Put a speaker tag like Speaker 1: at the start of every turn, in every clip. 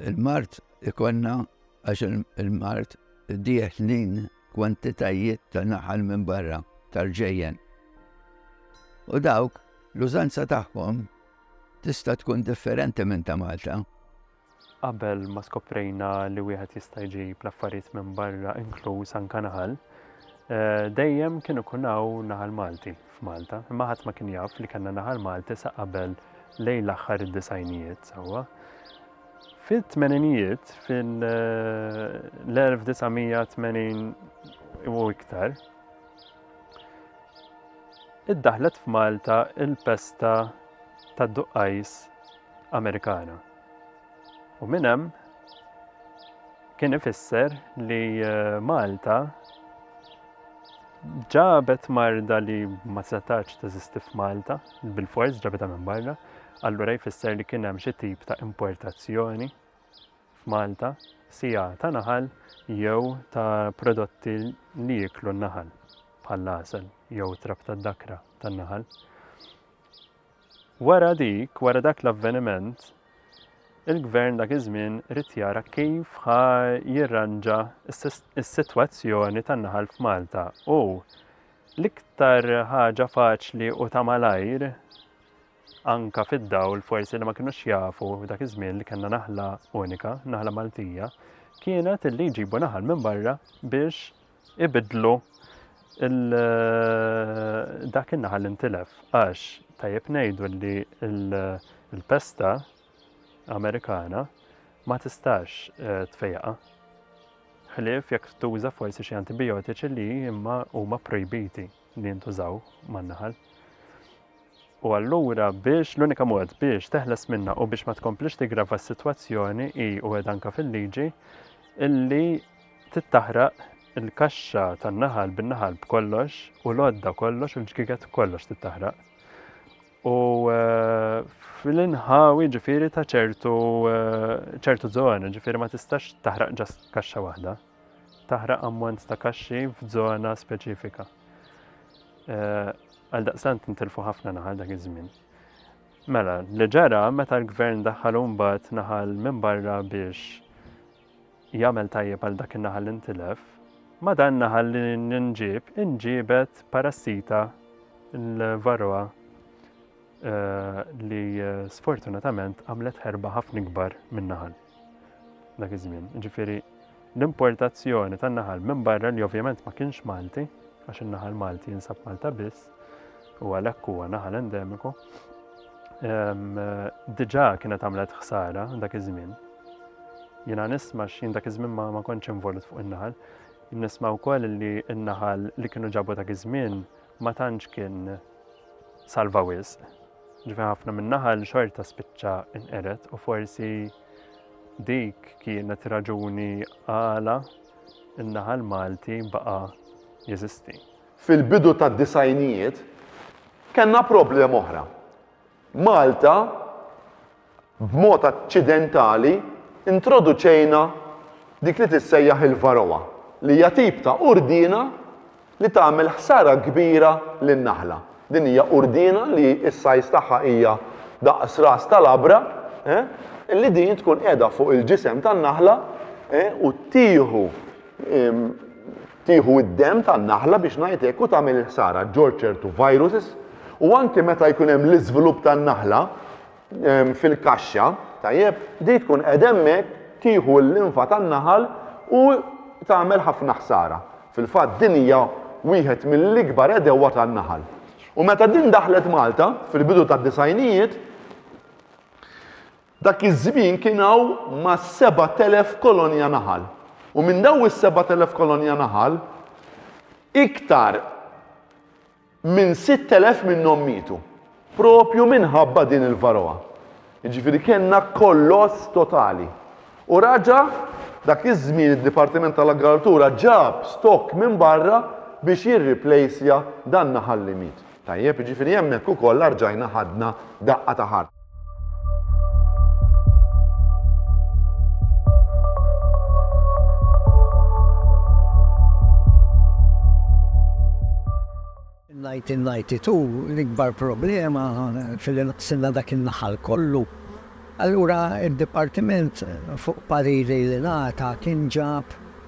Speaker 1: Il-mard ikollna għax il-mard dieħlin kwantitajiet ta' naħal minn barra tal-ġejjen. U dawk l-użanza tagħhom tista' tkun differenti minn ta' Malta. Qabel
Speaker 2: ma skoprejna li wieħed jista' jġib l-affarijiet minn barra inkluż anke naħal, eh, dejjem kienu ikun hawn naħal Malti. f'Malta, imma ħadd ma kien jaf li kellna Naħal Malti sa qabel lejl aħħar id-disgħinijiet sewwa. Fit-tmeninijiet, fil-1980 u iktar, iddaħlet f'Malta il-pesta tad-duqqajs Amerikana. U minn hemm kien ifisser li eh, Malta ġabet marda li ma setax teżisti f'Malta, bil-fors ġabetha minn barra, allura jfisser li kien hemm xi tip ta' importazzjoni f'Malta, sija ta' naħal jew ta' prodotti li jiklu n-naħal, bħal asel jew trab tad-dakra tan-naħal. Wara dik, wara dak l-avveniment, il-Gvern dak iż-żmien ried jara kif ħa jirranġa s-sitwazzjoni tan-naħal f'Malta u l-iktar ħaġa faċli u ta' malajr, anke fid-dawl forsi li ma kinux jafu dak iż-żmien li kellna naħla unika, naħla Maltija, kienet li jġibu naħal minn barra biex ibiddlu dak in-naħal li ntilef għax tajjeb ngħidu li l-pesta Amerikana ma tistax eh, tfejqa. Ħlief jekk tuża forsi xi antibiotiċi li imma huma projbiti. li jintużaw man-naħal. U allura biex l-unika mod biex teħles minna u biex ma tkomplix tigrava s-sitwazzjoni hi u qed anke fil-liġi illi tittaħraq il-kaxxa tan-naħal bin-naħal b'kollox u l-għodda kollox u l-ġgiget kollox tittaħraq. U eh, fil-inħawi ġifiri ta' ċertu eh, ċertu zona, ġifiri ma tistax taħraq ġas kaxxa waħda. taħraq ammont ta' kaxxi f'żona speċifika. Għaldaqstant intilfu ħafna naħal dak iż-żmien. Mela, li ġara meta l-gvern daħħal mbagħad naħal minn barra biex jagħmel tajjeb għal dak in-naħal intilef, ma dan naħal li nġib inġibet parassita l-varroa eh, li eh, sfortunatament għamlet ħerba ħafna kbar minn naħal. Dak iż-żmien, ġifieri l-importazzjoni tan-naħal minn barra li ovvjament ma kienx Malti, għax in-naħal Malti jinsab Malta biss, u għalhekk huwa naħal endemiku, diġà kienet għamlet ħsara dak iż-żmien. Jiena nisma x'jien dak iż-żmien ma, ma kontx involut fuq in-naħal. Nisma wkoll li n-naħal li kienu ġabu dak iż-żmien ma tantx kien salva wisq. Ġifi ħafna min-naħal xorta spiċċa inqered u forsi dik kienet raġuni għala n-naħal Malti baqa' jeżisti. Fil-bidu
Speaker 3: tad-disgħinijiet kellna problema oħra. Malta, b'mod aċċidentali, introduċejna dik li tissejjaħ il-Varroa, li hija tip ta' urdiena li tagħmel ħsara kbira lin-naħla. Din hija urdiena li s-size tagħha hija daqs ras ta' labra, li din tkun qiegħda fuq il-ġisem tan-naħla u tieħu Tieħu d-demm tan-naħla biex ngħid hekk u tagħmel il-ħsara ġġorr ċertu viruses u anke meta jkun hemm l-iżvilupp tan-naħla fil-kaxxa, tajjeb, din tkun qiegħda hemmhekk tieħu l-linfa tan-naħal u tagħmel ħafna ħsara. Fil-fatt din hija wieħed mill-ikbar għedewwa tan-naħal. U meta din daħlet Malta fil-bidu tad-disgħinijiet, Dak iż-żmien kien hawn ma' sebat elef kolonja naħal. U minn dawn is-sebat elef kolonja naħal, iktar minn sitt elef minnhom mietu. Proprju minħabba din il-varroa. Jiġifieri kellna kolloss totali. U raġa' dak iż-żmien id-Dipartiment tal-Agrikoltura ġab stock minn barra biex jirriplejsja dan-naħal li miet. Tajjeb, jiġifieri hemmhekk ukoll arġajna ħadna daqqa ta' ħarta.
Speaker 4: In 1992 l-ikbar problema filli naqsilna dak in-naħal kollu. Allura d-dipartiment fuq pariri li ngħata kien ġab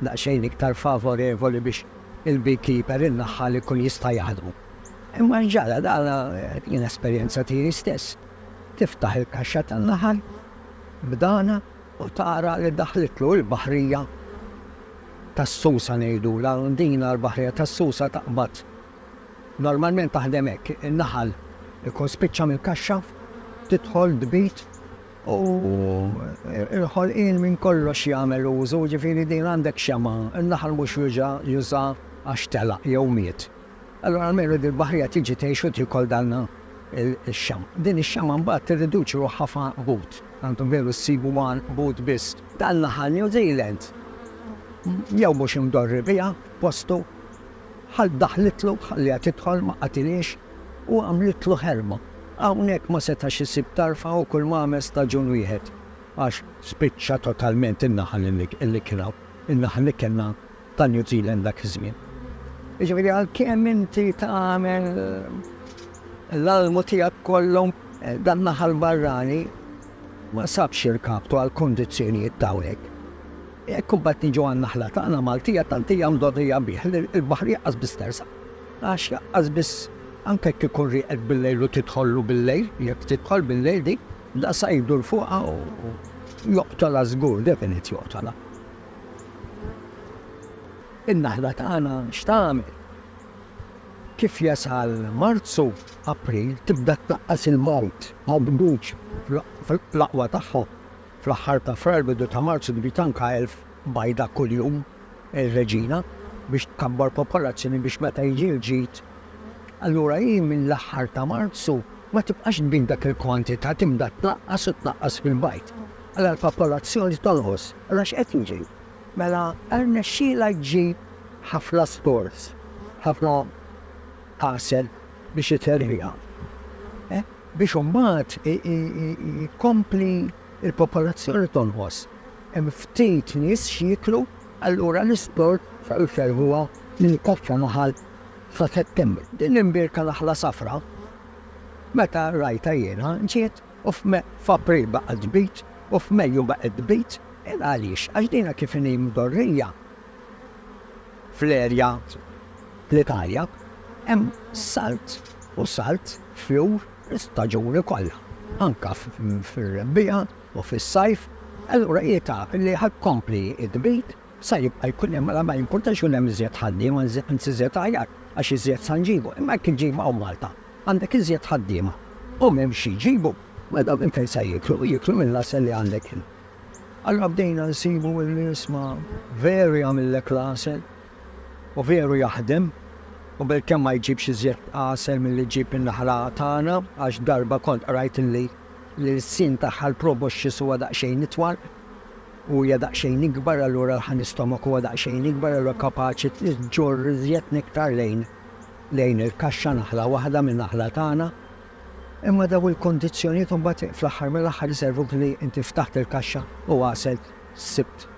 Speaker 4: daqsxejn iktar favorevoli biex il-beekeeper, in-naħħal, ikun jista' jaħdmu. Imma x'ġara? Dan kien esperjenza tiegħi stess. Tiftaħ il-kaxxa tan-naħal b'dana u tara li daħlitlu l-baħrija tas-susa ngħidulha, din l-baħrija tas-susa taqbad. Normalment taħdem hekk, in-naħal ikun spiċċa mill-kaxxa, tidħol tbid u l-ħolqien minn kollox jagħmel użu, jiġifieri din għandek xemgħa, in-naħal mhux juża, juża għax telaq jew miet. Allura almenu din il-baħrija tiġi tgħix u tiekol dan ix-xemgħa. Din ix-xemgħa mbagħad tirriduċi ruħha f'għanqbut, tant veru ssibu għanqbut biss. Dan naħal New Zealand jew mhux imdorri biha postu, Ħa daħlitlu, ħalliha tidħol, ma qatilhiex u għamlitlu ħerma. Hawnhekk ma setax isib tarfa u kulma għamel staġun wieħed għax spiċċa totalment in-naħal li kien hawn, in-naħal li kellna ta' New Zealand dak iż-żmien. Jiġifieri għalkemm inti tagħmel l-almu tiegħek kollu, dan-naħal barrani Ma sabx irkaptu għall-kundizzjonijiet t'hawnhekk. Jekk imbagħad niġu għan-naħla tagħna Maltija tant hija mdorrija bih li l-baħar jaqqas biss tersaq. Għax jaqqas biss, anke jekk ikun rieqek bil-lejl u tidħollu bil-lejl, jekk tidħol bil-lejl dik, daqsha jdur fuqha u joqtolha żgur, definit joqtolha. In-naħla tagħna x'tagħmel? Kif jasal Marzu, April tibda tnaqqas il-mard għall-bdud fl-aqwa tagħha. Fl-aħħar ta' Frar, bidu ta' Marzu tbid anke elf bajda kuljum ir-reġina biex tkabbar popolazzjoni biex meta jiġi l-ġid. Allura hi mill-aħħar ta' Marzu ma tibqax tbid dak il-kwantità tibda tnaqqas u tnaqqas fil-bajd. Allura l-popolazzjoni tonqos. Allura x'qed jiġri? Mela rnexxielha ġġib ħafna scores, ħafna għasel biex iterriha. Biex imbagħad tkompli l-popolazzjoni tonqos. Hemm ftit nies x'jieklu, allura l-isport jservuha lil kaxxa naħal sa Settembru. Din l-imbierka naħla safra, meta rajtha jiena ġiet u f'April baqgħet tbid, u f'Mejju baqgħet tbid, qiegħda għaliex? Għax dinha kif inhi mdorrija fl-erja fl-Italja, hemm salt u salt fjur l-istaġuni kollha, anke fir-rebbiegħa u fis-sajf, allura hi taf li ħa tkompli tbid, Sa jibqa' jkun hemm, mela ma jimpurtax ikun hemm iżjed ħaddiema, anzi iżjed aħjar, għax iżjed sa nġibu. Imma jekk iġġib hawn Malta, għandek iżjed ħaddiema u m'hemmx xi jġibu, mela minn fejn se jieklu? Jieklu mill-għasel li għandek int. Allura bdejna nsibu li isma' veru jagħmillek l-għasel u veru jaħdem u bilkemm ma jġibx iżjed għasel milli ġġib in-naħla tagħna għax darba kont qrajt li l-ilsien tagħha l-proboscis huwa daqsxejn itwal. u hija daqsxejn ikbar allura l-ħanistomach huwa daqsxejn ikbar allura kapaċi ġġorr iżjed nektar lejn lejn il-kaxxa naħla waħda minn naħla tagħna. Imma dawn il-kondizzjonijiet imbagħad fl-aħħar mill-aħħar iservuk li inti ftaħt il-kaxxa u għaselt sibt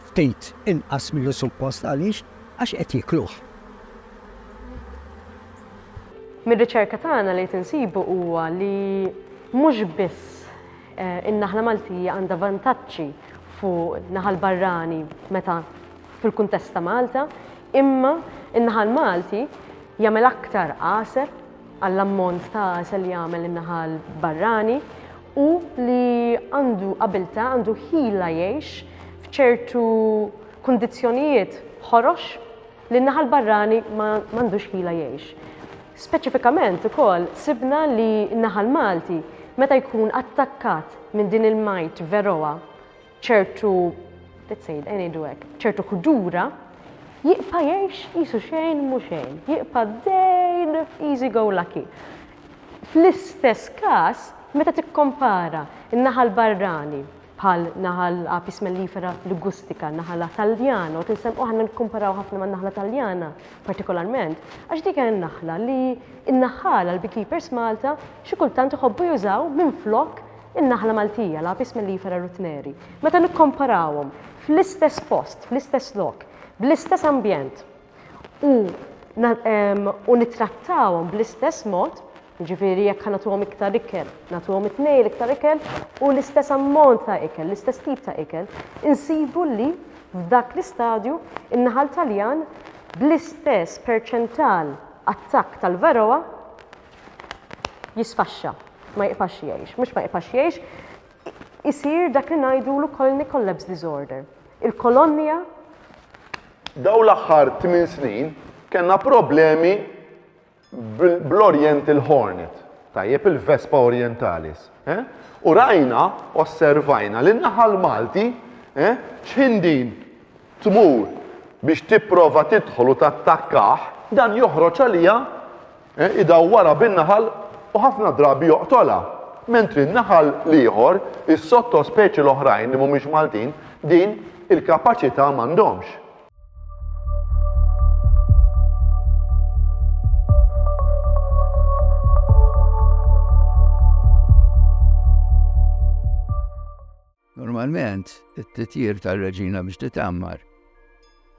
Speaker 4: ftit inqas milli suppost għaliex għax qed jikluh.
Speaker 5: Mir-riċerka tagħna li qed insibu huwa li mhux biss In-naħla Maltija għandha vantaġġi fuq naħa l-barrani meta fil-kuntest ta' Malta, imma n-naħal Malti jagħmel aktar għasel għall-ammont ta' għasel li jagħmel in-naħal barrani u li għandu abilta, għandu ħila jgħix f'ċertu kundizzjonijiet ħorox li n-naħa l-barrani ma għandux ħila jgħix. Speċifikament ukoll sibna li n-naħa l-Malti meta jkun attakkat minn din il-majt veroa ċertu let's say, ngħidu hekk, ċertu ħdura, jibqa' jgħix qisu xejn mhu xejn, jibqa' dejn easy go lucky. Fl-istess każ, meta tikkompara n-naħa l-barrani bħal naħal Apis mellifera ligustica, naħala Taljana, u tinsemmu aħna nikkumparaw ħafna man-naħla Taljana partikolarment, għax dik hija n-naħla li n-naħħala l-beekeepers Malta xi kultant iħobbu jużaw minflok in-naħla Maltija, l-Apis mellifera rutneri. Meta nikkomparawhom fl-istess post, fl-istess lok, bl-istess ambjent u u nittrattawhom bl-istess mod, Jiġifieri jekk ħa nagħtuhom iktar ikel, nagħtuhom it-tnejn l-iktar ikel u l-istess ammont ta' ikel, l-istess tip ta' ikel, insibu li f'dak l-istadju n-naħal Taljan bl-istess perċental attakk tal-varroa jisfaxxa, ma jibqax jgħix. Mhux ma jibqax jgħix, isir dak li ngħidulu colony collapse disorder. Il-kolonja
Speaker 3: Dawn l-aħħar tmien snin kellna problemi bl-oriental hornet, tajjeb, il-Vespa orientalis, eh? U rajna, osservajna li n-naħal Malti, eh? X'ħin din tmur biex tipprova tidħol u tattakkah, dan joħroġ għaliha, eh? idawwarha bin-naħal u ħafna drabi joqtolha. Mentri n-naħal l-ieħor, is-sottospeċi l-oħrajn li mhumiex Maltin, din il-kapaċità m'għandhomx.
Speaker 1: Normalment, it-titjir tal-reġina biex titammar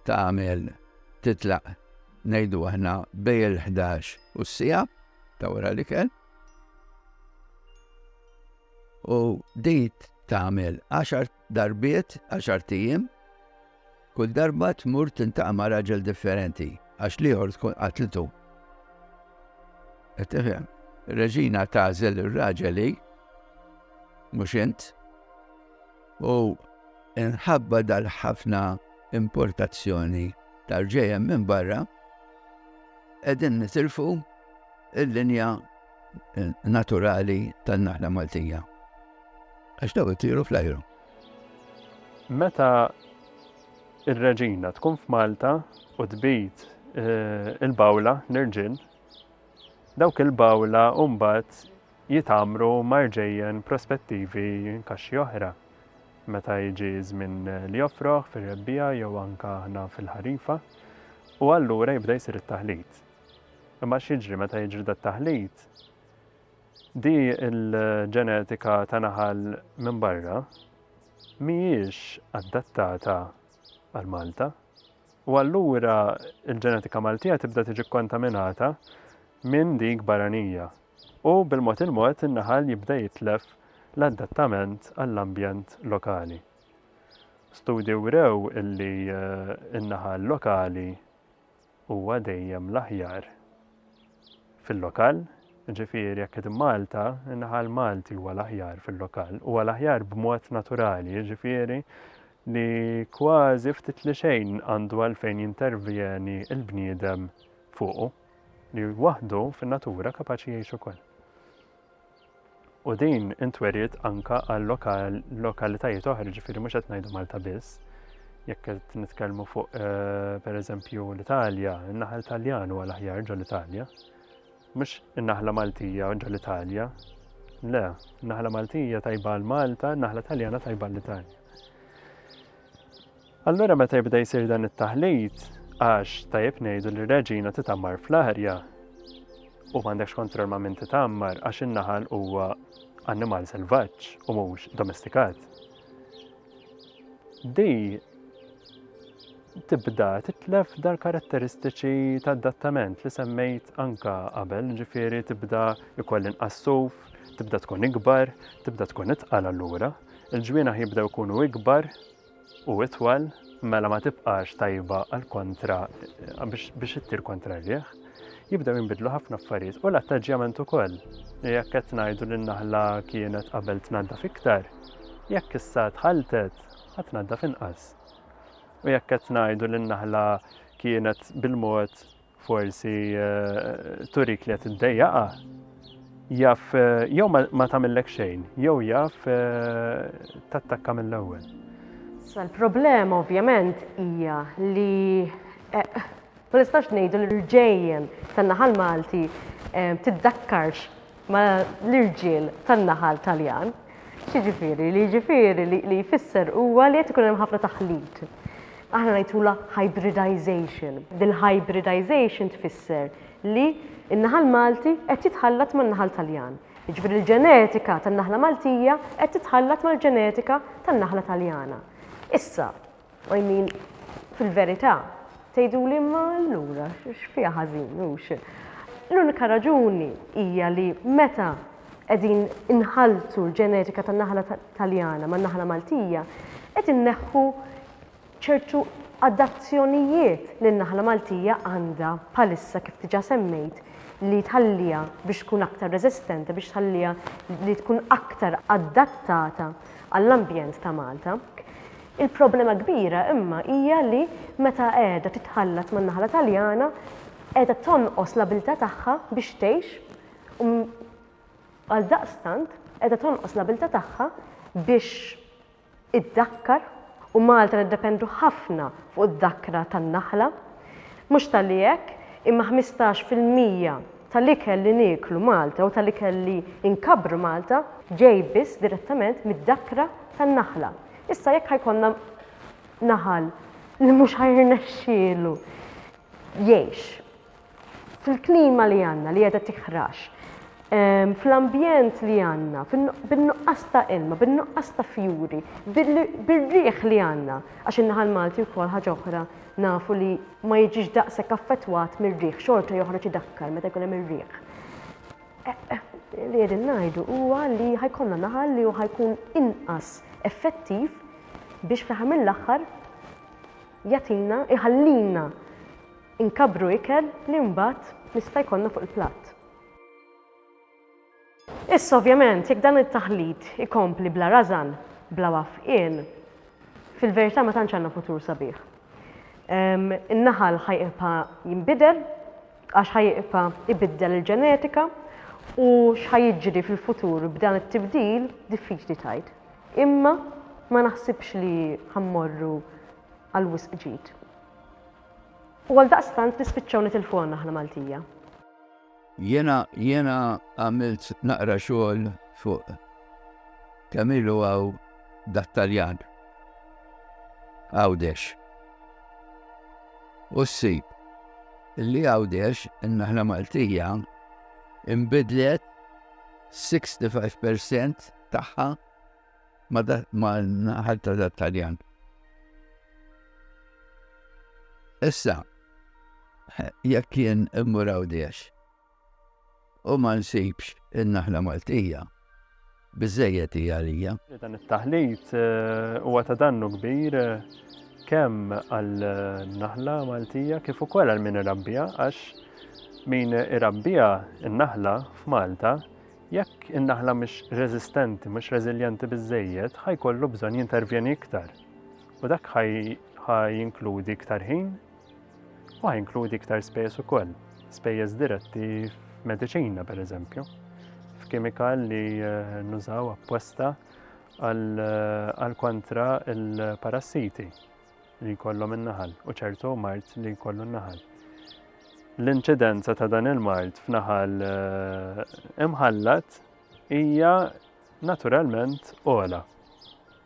Speaker 1: tagħmel titlaq ngħidu aħna bej il-11 u s-sija ta' wara li kell. U dit tagħmel 10 darbiet, għaxart ijiem, kull darba tmur tintaqa' ma' raġel differenti għax l-ieħor tkun qatlitu. Qed tifhem? Reġina tażel ir-raġeli mhux int u inħabba dal-ħafna importazzjoni tal-ġejjem minn barra qegħdin nitilfu il-linja naturali tan-naħla Maltija. Għax daw itiru fl-ajru. Meta
Speaker 2: r-Reġina tkun f'Malta u tbid il-bawla l-irġiel, dawk il-bawla mbagħad jitgħammru ma' rġejjen prospettivi kaxxi oħra meta jiġi żmien l-jofroħ fir-rebbiegħa jew anke aħna fil-ħarifa u allura jibda jsir it-taħlit. Imma x'jiġri meta jiġri dat-taħlit? Di l-ġenetika ta' naħal minn barra mhijiex adattata għal Malta u allura l-ġenetika Maltija tibda tiġi kkontaminata minn dik barranija u bil-mod il-mod in-naħal jibda jitlef l-adattament għall-ambjent lokali. Studji wrew illi n-naħal lokali huwa dejjem l-aħjar fil-lokal, jiġifieri jekk qed immalta, in-naħal Malti huwa l-aħjar fil-lokal, huwa l-aħjar b'mod naturali, jiġifieri li kważi ftit li xejn għandu għalfejn jintervjeni l-bniedem fuqu, li waħdu fin-natura kapaċi jgħix ukoll. u din intweriet anke għal lokalitajiet oħra, ġifieri mhux qed ngħidu Malta biss. Jekk qed nitkellmu fuq eh, pereżempju l-Italja, in-naħal Taljan huwa l-aħjar ġol Italja. Mhux in-naħla Maltija ġol Italja. Le, naħla Maltija tajba l Malta, naħla Taljana tajba l-Italja. Allura meta jibda jsir dan it-taħlit, għax tajjeb ngħidu li r-reġina titammar fl-arja u m'għandekx kontroll ma' min titammar għax in-naħal huwa annimal selvaġġ u mhux domestikat. Di tibda titlef dar karatteristiċi ta' adattament li semmejt anka qabel, ġifieri tibda ikoll inqassuf, tibda tkun ikbar, tibda tkun itqal allura, il-ġwienaħ jibdew ikunu ikbar u itwal mela ma tibqax tajba għal kontra biex ittir kontra r-riħ, jibdew jinbidlu ħafna affarijiet u l-attaġġjament ukoll. Jekk qed ngħidu li n-naħla kienet qabel tnaddaf iktar, jekk issa tħalltet ħa tnaddaf inqas. U jekk qed ngħidu li n-naħla kienet bil-mod Forsi turik li qed iddejjaqha. Jaf jew ma tagħmillek xejn, jew jaf tattakka mill-ewwel. Sa
Speaker 5: l-problema ovvjament hija li ma nistax ngħidu li l-ġejjen tan-naħa l-Malti tiddakkarx ma' l-irġiel tan-naħal Taljan. X'jiġifieri? Li jiġifieri li li jfisser huwa li qed ikun hemm ħafna taħlit. Aħna ngħidulha hybridization. Dil-hybridization tfisser li n-naħal Malti qed jitħallat man-naħal Taljan. Jiġifieri l-ġenetika tan-naħla Maltija qed titħallat mal-ġenetika tan-naħla Taljana. Issa, I mean, fil-verità, tgħiduli imma allura x'fiha ħażin, hux? L-unika raġuni hija li meta qegħdin inħalltu l-ġenetika tan-naħla Taljana man-naħla Maltija, qed inneħħu ċertu adazzjonijiet li n-naħla Maltija għandha bħalissa kif diġà semmejt li tħalliha biex tkun aktar reżistenti, biex tħalliha li tkun aktar adattata għall-ambjent ta' Malta. Il-problema kbira imma hija li meta qiegħda titħallat man-naħla Taljana qiegħda tonqos l-abiltà tagħha biex tgħix u għaldaqstant qiegħda tonqos l-abiltà tagħha biex iddakkar u Malta niddependu ħafna fuq id-dakkra tan-naħla. Mhux talli hekk, imma ħmistax fil-mija tal-ikel li nieklu Malta u tal-ikel li nkabbru Malta ġej biss direttament mid-dakkra tan-naħla. Issa jekk ħajkonna naħal li mhux ħajrnexxielu jgħix fil-klima li għandna li qiegħda tiħrax, ehm, fl-ambjent li għandna, bin-nuqqas ta' ilma, bin-nuqqas ta' fjuri, bir-riħ li għandna, għax in-naħal Malti wkoll ħaġa oħra nafu li ma jiġix daqshekk affettwat mir-riħ, xorta joħroġ idakkar meta jkun hemm ir-riħ. Li qegħdin ngħidu huwa li ħa jkollna naħal li hu ħa jkun inqas effettiv biex fl-aħħar mill-aħħar jagħtina, iħallina nkabbru ikel li mbagħad nista' jkollna fuq il-platt. Issa ovvjament jekk dan it-taħlit ikompli bla rażan, bla wafqien, fil-verità ma tantx għandna futur sabiħ. In-naħal ħa jibqa' jinbidel, Għax ħa jibqa' jbiddel il-ġenetika u x'ħa jiġri fil-futur b'dan it-tibdil diffiċli tgħid. Imma ma naħsibx li ħa mmorru għal wisq ġid. U għaldaqstant nispiċċaw nitilfu għandna aħna Maltija.
Speaker 1: Jiena jiena għamilt naqra xogħol fuq kemm ilu hawn dat-Taljan. Għawdex. U ssib. li Għawdex, in-naħla Maltija, inbidlet 65% tagħha ma' naħal ta' Taljan. Issa, jekk kien immur Għawdex, u ma nsibx in-naħla Maltija. Biżżejjed hi għalija. Dan it-taħlit
Speaker 2: eh, huwa ta' dannu kbir eh, kemm għal-naħla Maltija kif ukoll għal min irabbija għax min irabbija n-naħla f'Malta jekk in-naħla mhix reżistenti, mhux reżiljenti biżejjed, ħajkollu bżonn jintervjeni iktar. U dak ħaj jinkludi iktar ħin, Huwa jinkludi iktar spejjeż ukoll, spejjeż diretti f'mediċina pereżempju, f'kimikal li eh, nużaw apposta għal eh, kontra il-parassiti li jkollhom in-naħal u ċertu mart li jkollu n-naħal. L-inċidenza ta' dan il-mart f'naħal eh, imħallat hija naturalment ola.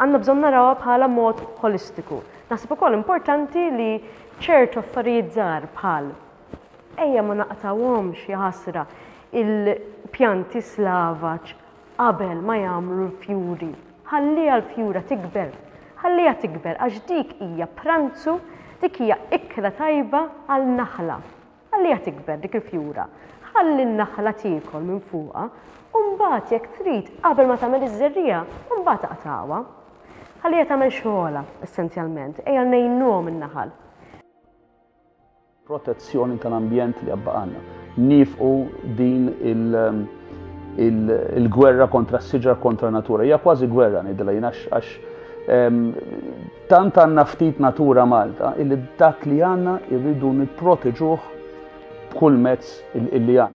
Speaker 5: Għandna bżonn narawha bħala mod ħolistiku. Naħseb ukoll importanti li ċertu affarijiet żgħar bħal, ejja ma naqtgħuhomx, jaħasra, il-pjanti slavaġ qabel ma jagħmlu l-fjuri, ħalliha l-fjura tikber, ħalliha tikber għax dik hija pranzu, dik hija ikla tajba għal naħla. Ħalliha tikber dik il-fjura, ħalli n-naħla tiekol minn fuqha u mbagħad jekk trid qabel ma tagħmel iż-żerriegħa u mbagħad aqtagħha. Ħalliha tagħmel xogħolha essenzjalment, ejja ngħinuhom in-naħal.
Speaker 6: Protezzjoni tal-ambjent li għad baqgħalna. Niefqu din il- il-gwerra kontra s-siġar kontra natura. Hija kważi gwerra ngħidilha jien għax tant għandna ftit natura Malta illi dak li għandna irridu nipproteġuh b'kull mezz illi għandna.